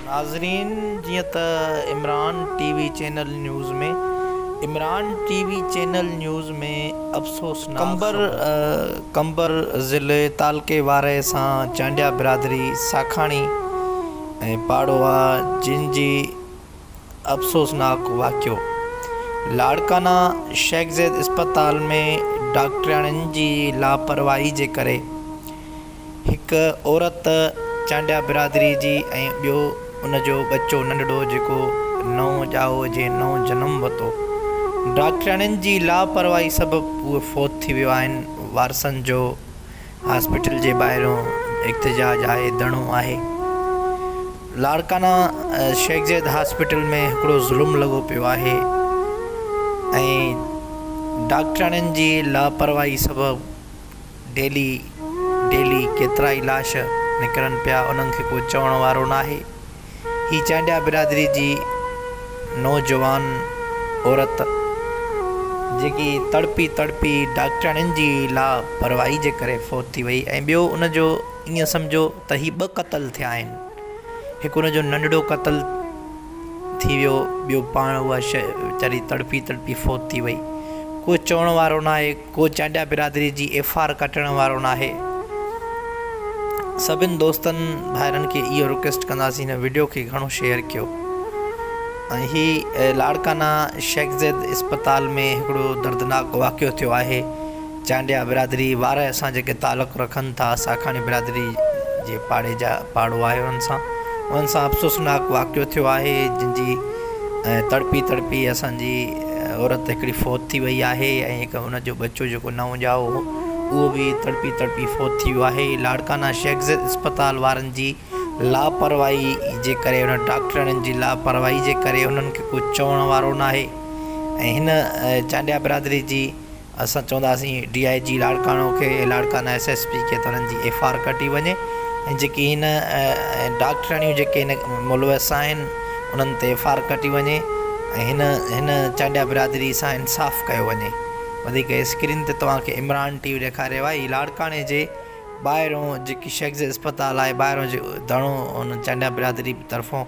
ناظرين جيئن ته Imran T V channel news ۾ Imran T V channel news ۾ افسوسناڪ خبر. قمبر ضلعي تعلقي وارهي سان چانڊيا برادري ساکاڻي ۽ پاڙو آ جن جي. افسوسناڪ واقعو لاڙڪانا شيخ زيد اسپتال ۾ ڊاڪٽرياڻين جي لاپرواهي جي ڪري هڪ عورت چانڊيا برادري جي ۽ ٻيو ان جو ٻچو ننڍڙو جيڪو نئون ڄائو جي نئون جنم وتو ڊاڪٽرياڻين جي لاپرواهي سبب اهي فوت ٿي ويو آهن وارثن جو هاسپيٽل جي ٻاهريون احتجاج آهي ڌرڻو آهي لاڙڪانا شيخ زيد هاسپيٽل ۾ هڪڙو ظلم لڳو پيو آهي ۽ ڊاڪٽرياڻين جي لاپرواهي سبب ڊيلي ڊيلي ڪيترائي لاش نڪرن پيا انهن کي ڪو چوڻ وارو ناهي هي چانڊيا برادري جي نوجوان عورت جيڪي تڙپي تڙپي ڊاڪٽرياڻين جي لا پرواهي جي ڪري فوت ٿي وئي ۽ ٻيو ان جو ائين سمجهو ته هي ٻه قتل ٿيا آهن هڪ ان جو ننڍڙو قتل ٿي ويو ٻيو پاڻ اها شيء ويچاري تڙپي تڙپي فوت ٿي وئي ڪو چوڻ وارو ناهي ڪو چانڊيا برادري جي ايف آر ڪٽڻ وارو ناهي سڀن دوستن ڀائرن کي اهو رڪويسٽ ڪنداسين هن وڊيو کي گهڻو شيئر ڪيو ۽ هي لاڙڪانا شيخ زيد اسپتال ۾ هڪڙو دردناڪ واقعو ٿيو آهي چانڊيا برادري وارا اسان جيڪي تعلق رکن ٿا ساکاڻي برادري جي پاڙي جا پاڙو آهي انهن سان انهن سان افسوسناڪ واقعو ٿيو آهي جن جي تڙپي تڙپي اسان جي عورت هڪڙي فوت ٿي وئي آهي ۽ هڪ ان جو ٻچو جيڪو نو ڄائو هو اهو به تڙپي تڙپي فوت ٿي ويو آهي لاڙڪانا شيخ زيد اسپتال وارن جي لاپرواهي جي ڪري انهن ڊاڪٽرياڻين جي لاپرواهي جي ڪري انهن کي ڪو چوڻ وارو ناهي ۽ هن چانڊيا برادري جي اسان چونداسين ڊي آء جي لاڙڪاڻو کي ۽ لاڙڪانا ايس ايس پي کي ته انهن جي ايف آر ڪٽي وڃي ۽ جيڪي هن ڊاڪٽرياڻيون جيڪي هن ملوث آهن انهن تي ايف آر ڪٽي وڃي ۽ هن چانڊيا برادري سان انصاف ڪيو وڃي وڌيڪ اسڪرين تي توهان کي عمران ٽي وي ڏيکاريو آهي هي لاڙڪاڻي جي ٻاهرون جيڪي شيخ زايد اسپتال آهي ٻاهرون جي ڌرڻو هن چانڊيا برادري طرفون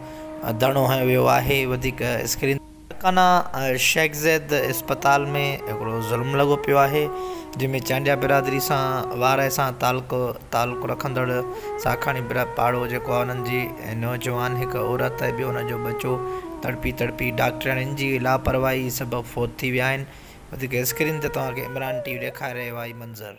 ڌرڻو هنيو ويو آهي وڌيڪ اسڪرين لاڙڪانا شيخ زيد اسپتال ۾ هڪڙو ظلم لڳو پيو آهي جنهن ۾ چانڊيا برادري سان وارهه سان تعلق رکندڙ ساکاڻي پاڙو جيڪو آهي انهن جي نوجوان هڪ عورت ۽ ٻيو ان جو ٻچو تڙپي تڙپي ڊاڪٽرياڻين جي لاپرواهي سبب فوت ٿي ويا آهن وڌيڪ اسڪرين تي توهان کي عمران ٽي وي ڏيکاري رهيو آهي منظر